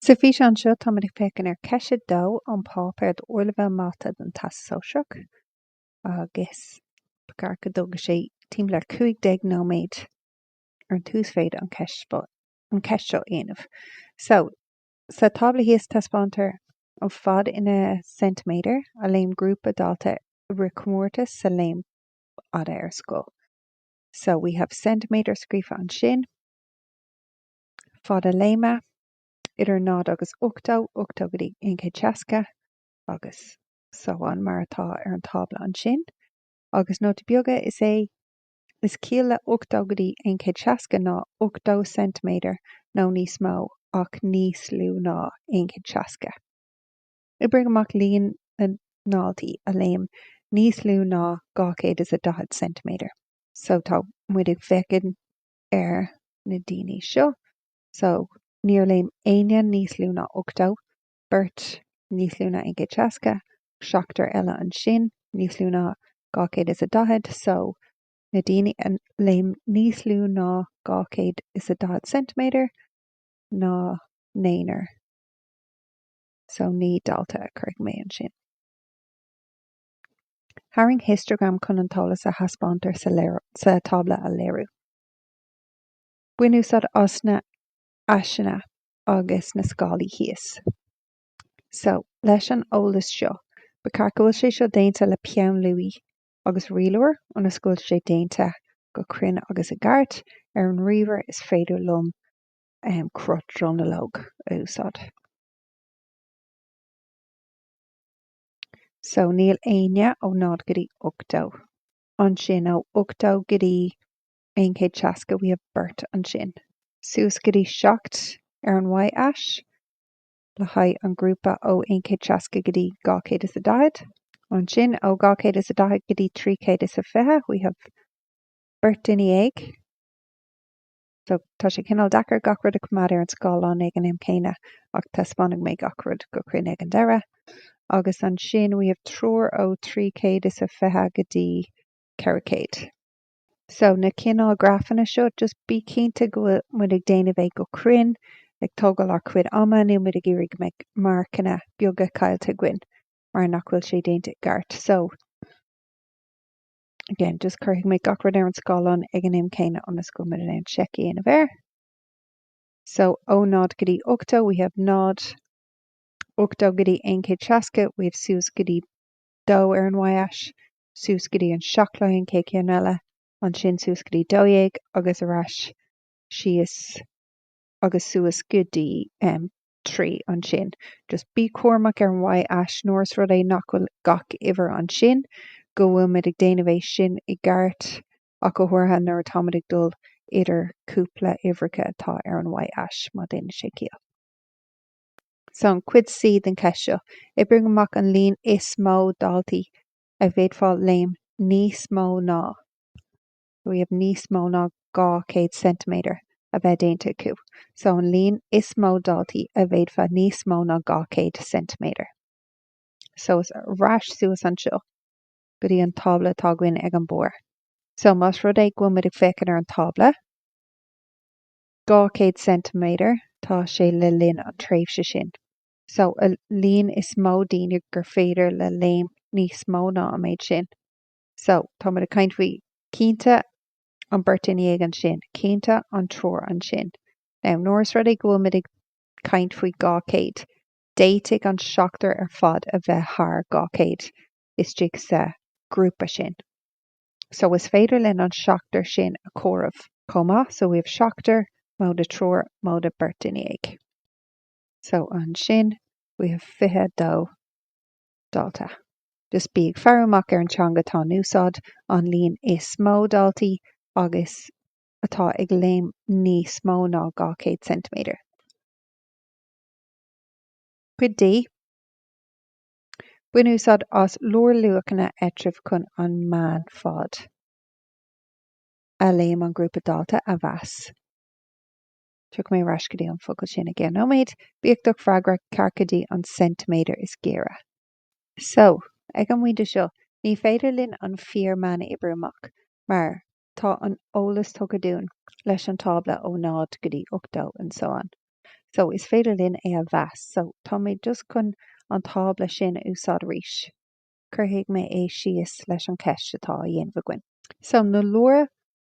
Sa físeán seo táimid ag féachaint ar cheist 2 ón páipéar d'Ardleibhéal Mata don Teastas Sóisearach agus ba cheart go dtógfaidh sé timpeall ar 15 nóiméad ar an t-uasmhéid an cheist seo a dhéanamh. So, sa tábla thíos taispeántar an fad ina ceintiméadair a léim grúpa daltaí i rith comórtas sa léim fhada ar scoil. So, we have ceintiméadar scríofa ansin. fad na léime, idir náid agus ochtó, ochtó go dtí aon chéad seasca agus so on, mar atá ar an tábla ansin. Agus nóta beag, is é is ciall le ochtó go dtí aon chéad seasca ná ochtó ceintiméadar nó níos mó ach níos lú ná aon chéad seasca. Oibrigh amach líon na ndaltaí a léim níos lú ná dhá chéad is a daichead ceintiméadar so tá muid ag féachaint ar na daoine seo. So níor léim éinne níos lú ná 80, beirt níos lú ná 160, seachtar eile ansin níos lú ná 240. So na daoine a léim níos lú ná 240 ceintiméadar ná naonúr. So naoi dalta a chuirfidh mé ansin. Tarraing histeagram chun an t-eolas a thaispeántar sa tábla a léiriú. Bain úsáid as na aiseanna agus na scálaí thíos. So, leis an eolas seo, ba cheart go bhfuil sé seo déanta le peann luaí agus rialóir ionas go bhfuil sé déanta go cruinn agus i gceart. Ar an ríomhaire is féidir liom cruth dronuilleoige a úsáid. So níl éinne ó náid go dtí ochtó. Ansin ó ochtó go dtí aon chéad seasca we have beirt ansin. Suas go dtí seacht ar an y-ais le haghaidh an grúpa ó aon chéad seasca go dtí dhá chéad is a daichead. Ansin ó dhá chéad is a daichead go dtí trí chéad is a fiche we have beirt duine dhéag. So, tá sé cineál deacair gach rud a choimeád ar an scáileán ag an am céanna ach taispeánfaidh mé gach rud go cruinn ag an deireadh. Agus ansin we have triúr ó trí chéad is a fiche go dtí ceithre chéad. So, na cineál grafanna seo, just bí cinnte go bhfuil muid ag déanamh é go cruinn, ag tógáil ár chuid ama, níl muid ag iarraidh go mbeidh marcanna beaga caillte againn mar nach bhfuil sé déanta i gceart. So. Again, just cuirfidh mé gach rud ar an scáileán ag an am céanna ionas go bhfuil muid in ann seic a dhéanamh air. So ó 0 go dtí 80 we have 0, 80 go dtí 160 we have suas go dtí 2 ar an y-ais, suas go dtí an 7 le haghaidh an chéad cheann eile, ansin suas go dtí 12 agus ar ais síos agus suas go dtí em. trí ansin. Just bí cúramach ar an Y ais nuair is rud é nach bhfuil gach uimhir ansin, go bhfuil muid ag déanamh é sin i gceart ach go háirithe nuair atáimid ag dul idir cúpla uimhreacha atá ar an Y ais, má déanann sé ciall. So an cuid C den cheist seo, oibrigh amach an líon is mó daltaí a bhféadfadh léim níos mó ná. we have níos mó ná 200 ceintiméadar a bheith déanta acu so an líon is mó daltaí a bhféadfadh níos mó ná 200 ceintiméadar so ar ais suas anseo go dtí an tábla atá againn ag an barr so más rud é go bhfuil muid ag féachaint ar an tábla 200 ceintiméadar tá sé le linn an tréimhse sin so an líon is mó daoine gur féidir le léim níos mó ná an méid sin. So, tá muid ag caint faoi cinnte an beirt duine dhéag ansin, cinnte an triúr ansin. Now, nuair is rud é go bhfuil muid ag caint faoi 200, d'fhéadfadh an seachtar ar fad a bheith thar 200 istigh sa ghrúpa sin. So, is féidir linn an seachtar sin a chomhaireamh chomh maith. So, we have seachtar móide triúr móide beirt duine dhéag. So, ansin, we have 22. dalta. Just bí ag faire amach ar an teanga atá in úsáid, an líon is mó daltaí agus atá ag léim níos mó ná 200 ceintiméadar. Cuid D, Bain úsáid as lárluachanna eatraimh chun an meánfhad a léim an grúpa dalta a mheas. Tiocfaidh mé ar ais go dtí an focal sin i gceann nóiméad. Bíodh do freagra ceart go dtí an ceintiméadar is gaire. So, ag an bpointe seo, ní féidir linn an fíor-meán a oibriú amach, mar tá an t-eolas tugtha dúinn leis an tábla ó 0 go dtí 80 and so on. So, is féidir linn é a mheas. So, tá mé just chun an tábla sin a úsáid arís. Cuirfidh mé é síos leis an ceist atá á dhéanamh againn. So, na lár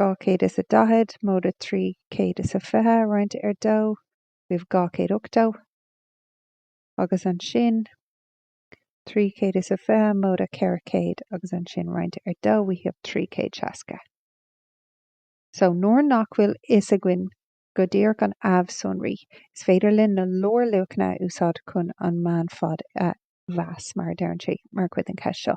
dhá chéad is a daichead, móide trí chéad is a fiche roinnte ar dó, we have dhá chéad ochtó, agus ansin trí chéad is a fiche, móide ceithre chéad, agus ansin roinnte ar dó, we have trí chéad seasca. So, nuair nach bhfuil fhios againn go díreach an amhshonraí, is féidir linn na lárluachanna a úsáid chun an meánfhad a mheas, mar a deireann sé mar chuid den cheist seo.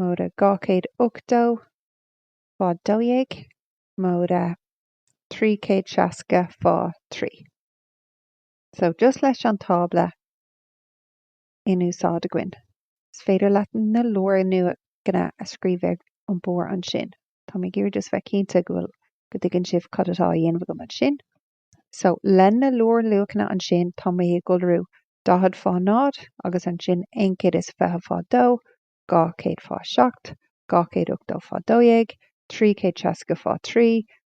Móide 280, fá 12, móide 360, fá 3. So, just leis an tábla in úsáid againn, is féidir leat na lárluachanna a scríobh ar an barr ansin. Tá mé ag iarraidh just bheith cinnte go bhfuil go dtuigeann sibh cad atá a dhéanamh agam ansin. So, le na lárluachanna ansin, tá mé ag iolrú daichead fá náid agus ansin aon chéad is fiche fá dó, dhá chéad fá seacht, dhá chéad ochtó fá dó dhéag, trí chéad seasca fá thrí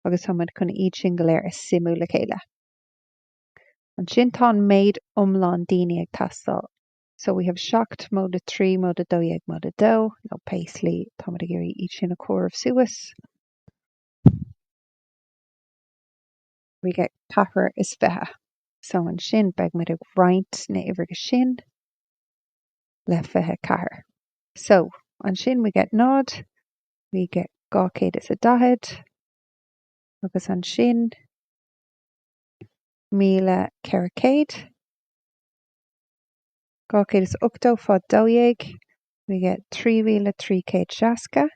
agus tá muid chun iad sin go léir a suimiú le chéile. Ansin tá an méid iomlán daoine ag teastáil. So we have seacht móide a trí móide a dó dhéag móide a dó nó pé slí tá muid ag iarraidh iad sin a chomhaireamh suas. We get ceathair is fiche. So ansin beidh muid ag roinnt na uimhreacha sin le fiche ceathair. So ansin we get náid, we get dhá chéad is a daichead agus ansin míle ceithre chéad, dhá chéad is ochtó fá dó dhéag, we get trí mhíle trí chéad seasca,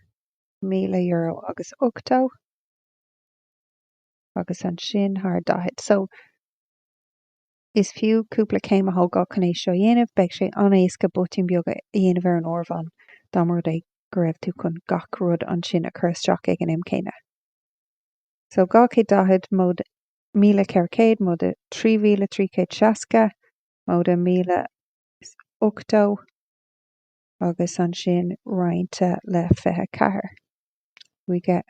míle euro agus ochtó. agus ansin thar daichead. So, is fiú cúpla céim a thógáil chun é seo a dhéanamh. Beidh sé an-éasca botúin beaga a dhéanamh ar an áireamhán dá mba rud é go raibh tú chun gach rud ansin a chur isteach ag an am céanna. So, dhá chéad daichead, móide míle ceithre chéad, móide trí mhíle trí chéad seasca, móide míle is ochtó, agus ansin roinnte le fiche ceathair. We get.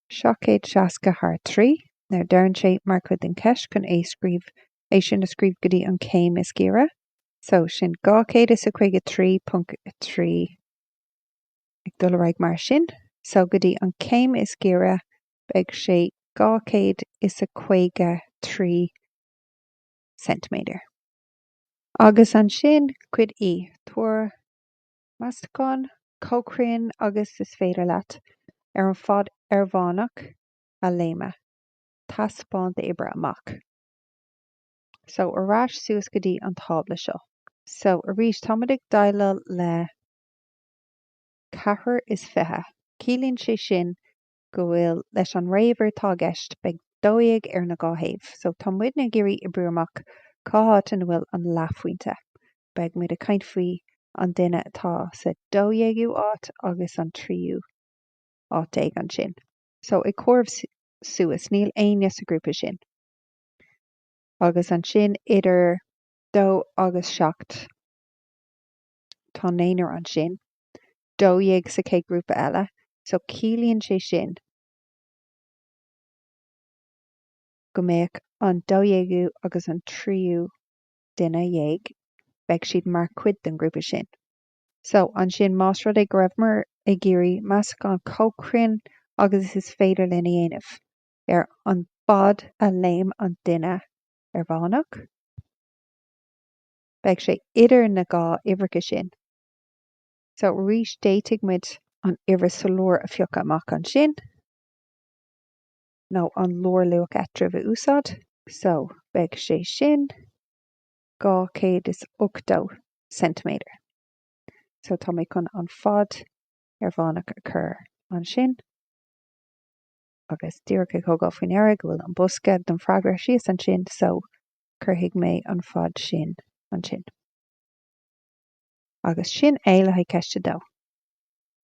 760 thar trí, now deireann sé, mar chuid den cheist chun é scríobh, é sin a scríobh go dtí an chéim is giorra. So, sin 253.3 ag dul ar aghaidh mar sin. So, go dtí an chéim is giorra, beidh sé 253 ceintiméadar. Agus ansin, cuid E, tabhair. Meastachán chomh cruinn agus is féidir leat ar an fad airmheánach a léimeadh. Taispeáin d'oibriú amach. So, ar ais suas go dtí an tábla seo. So, arís, táimid ag déileáil le ceathair is fiche. Ciallaíonn sé sin go bhfuil leis an ré-uimhir atá i gceist beidh dó dhéag ar na dhá thaobh so tá muidne ag iarraidh oibriú amach cá háit ina bhfuil an leathphointe. Beidh muid ag caint faoi an duine atá sa dó dhéagú áit agus an tríú áit déag ansin so ag comhaireamh suas níl éinne sa grúpa sin agus ansin idir dó agus seacht tá naonar ansin, dó dhéag sa chéad grúpa eile, so ciallaíonn sé sin go mbeadh an dó dhéagú agus an tríú duine déag, beidh siad mar chuid den ghrúpa sin. So, ansin, más rud é go raibheamar ag iarraidh meastachán chomh cruinn agus is féidir linn a dhéanamh ar an bhfad a léim an duine ar Mheánach, beidh sé idir na dhá uimhreacha sin. So arís d'fhéadfadh muid an uimhir sa lár a phiocadh amach ansin nó an lárluach eatarthu a úsáid. So beidh sé sin 280 ceintiméadar. So tá mé chun an fad ar Mheánach a chur ansin agus díreach ag tógáil faoin aire go bhfuil an bosca don freagra thíos ansin so cuirfidh mé an fad sin ansin. Agus sin é le haghaidh ceist a dó.